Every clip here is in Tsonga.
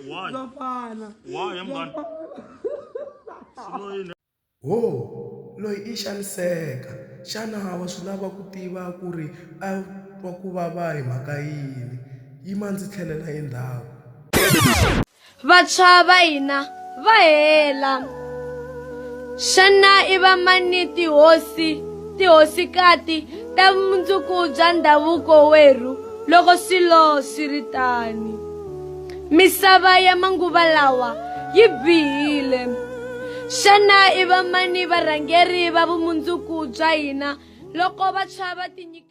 Why? Why am I? Wo, loyi i xaniseka. Xana wa swi lava ku tiva ku ri a twa ku vava hi mhaka yini? Yima ndzi tlhelela endzhaku. Vantshwa va hina va hela. Xana i vamani tihosi, tihosikati ta vumundzuku bya ndhavuko werhu loko swilo swi ri tani? Misava ya manguva lawa yi bihile. Xana i vamani varhangeri va vumundzuku bya hina loko vantshwa va tinyike?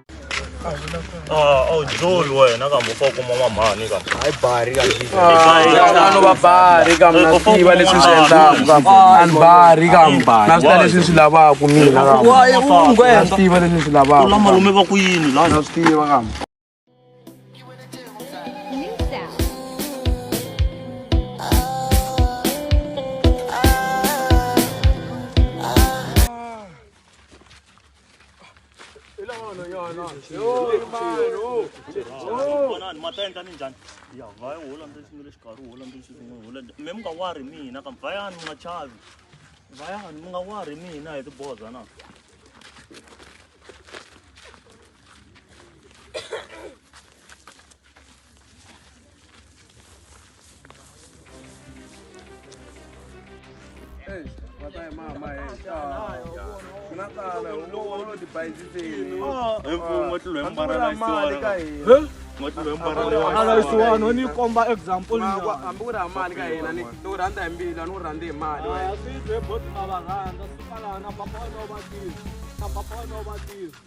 awujoli ah, wena kambe ufa kuma n'wamhani kambeayibarikano ah, vabari kambe na swi tiva leswi swi endlaku kambe a ni bari kambe na swi ta leswi ni swi lavaku mina kambe swi tiva leswi ni swi lavaku la malume va ku yini la na swi tiva kambe vonani matenda ni njhani ya vhaya u hola ndzi sungule xikarhi u hola ndzi sungule hola mi mi nga wari mina kambe vhayani mi nga chavi vhayani mi nga wari mina hi tiboza na alaisiwani ni komba example hambi ku ri ha mali ka hina ni u rhandza hi mbilu a ni u rhandzi hi mali wena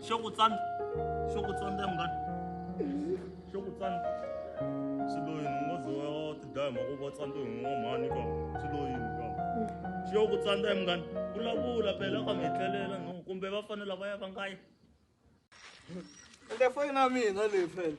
xo ku tsana xo ku tsana ta munghana xo ku tsana xiloyini u ngo ze wa tidaya mhaka u va tsandza hi n'wa mhani ka xiloyini ka xo ku tsana ta munghana vulavula phela ka mi etlelela no kumbe va fanela va ya va nga yi le foyini ya mina leyi phela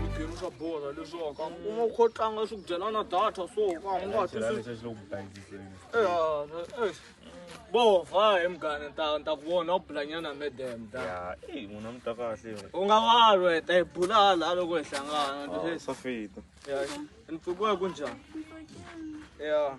Mitirho swa bola leswaku ka u nga kho tlanga swi ku dyela na data so ka u nga twisisi. Eh, bova hi mugane ta ta ku vona u bulanyana medem ta. Ya, eh munhu a mi ta kahle. U nga valwa hi ta hi bula hala loko hi hlangana. Ah, swa fita. Ya, ni pfukiwa ku njhani? Ya.